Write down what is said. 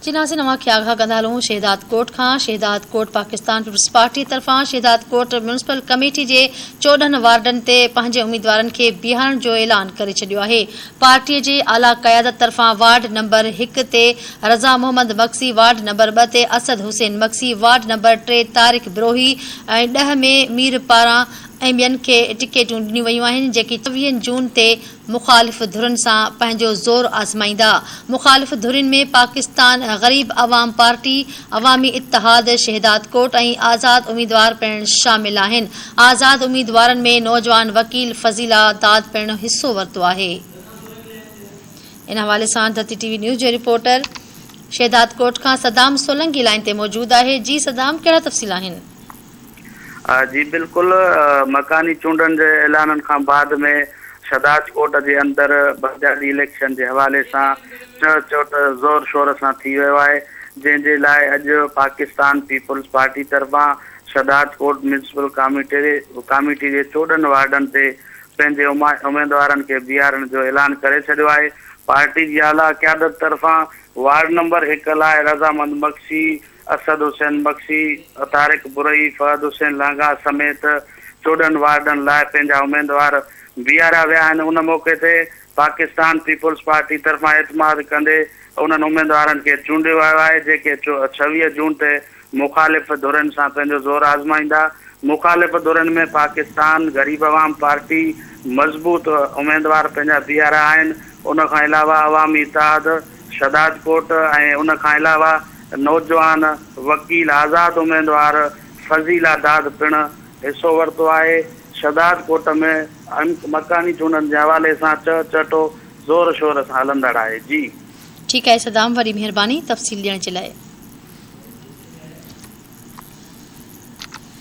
چيناسي نوان کي آگاهه ڪندا هلون شهدادڪوٽ کان شهدادڪوٽ پاڪستان پيپلز پارٽي طرفان شهدادڪوٽ ميونسپل ڪميٽي جي چوڏهن وارڊن تي پنهنجي اميدوارن کي بيهارڻ جو اعلان ڪري ڇڏيو آهي پارٽي جي اعليٰ قيادت طرفان وارڊ نمبر هڪ تي رضا محمد مگسي وارڊ نمبر ٻه تي اسد حسين مگسي وارڊ نمبر ٽي طارق بروهي ۽ ڏهه ۾ مير پاران ۽ ٻين کي ٽڪيٽون ڏنيون ويون آهن جيڪي چوويهن جون تي مخالف ڌرين سان پنهنجو زور آزمائيندا، مخالف ڌرين ۾ پاڪستان غريب عوام پارٽي، عوامي اتحاد شهدادڪوٽ ۽ آزاد اميدوار پڻ شامل آهن، آزاد اميدوارن ۾ نوجوان وڪيل فضيلا داد پڻ حصو ورتو آهي. ان حوالي سان ڌرتي ٽي وي نيوز جو رپورٽر شهدادڪوٽ کان صدام سولنگي لائين تي موجود آهي، جي صدام ڪهڙا تفصيل آهن؟ جي بلڪل، مڪاني چونڊن جي اعلانن کان بعد ۾ شھداج ڪوٽ جي اندر بنگالي اليڪشن جي حوالي سان چهه چوٽ زور شور سان ٿي ويو آهي جنهن جي لاء اڄ پاڪستان پيپلز پارٽي طرفان شھداج ڪوٽ ميونسپل ڪاميٽي جي چوڏهن وارڊن تي پنهنجي اميدوارن کي بيھارڻ جو اعلان ڪري ڇڏيو آهي پارٽي جي اعليٰ قيادت طرفان وارڊ نمبر هڪ لاء رضامند مگسي اسد حسين بخشي، طارق برهي، فهد حسين لانگاهه سميت چوڏهن وارڊن لاء پنهنجا اميدوار بيهاريا ويا آهن، ان موقعي تي پاڪستان پيپلز پارٽي طرفان اعتماد ڪندي انهن اميدوارن کي چونڊيو ويو آهي، جيڪي ڇويهه جون تي مخالف ڌرين سان پنهنجو زور آزمائيندا، مخالف ڌرين ۾ پاڪستان غريب عوام پارٽي مضبوط اميدوار پنهنجا بيهاريا آهن، ان کان علاوه عوامي اتحاد شھدادڪوٽ ۽ ان کان علاوه نوجوان وڪيل آزاد اميدوار فضيلا داد پڻ حصو ورتو آهي. شھداد ڪوٽ ۾ مڪاني چونڊن جي حوالي سان چهه چهٽو زور شور سان هلندڙ آهي. جي. ٺيڪ آهي صدام وڏي مھرباني تفصيل ڏيڻ جي لاء.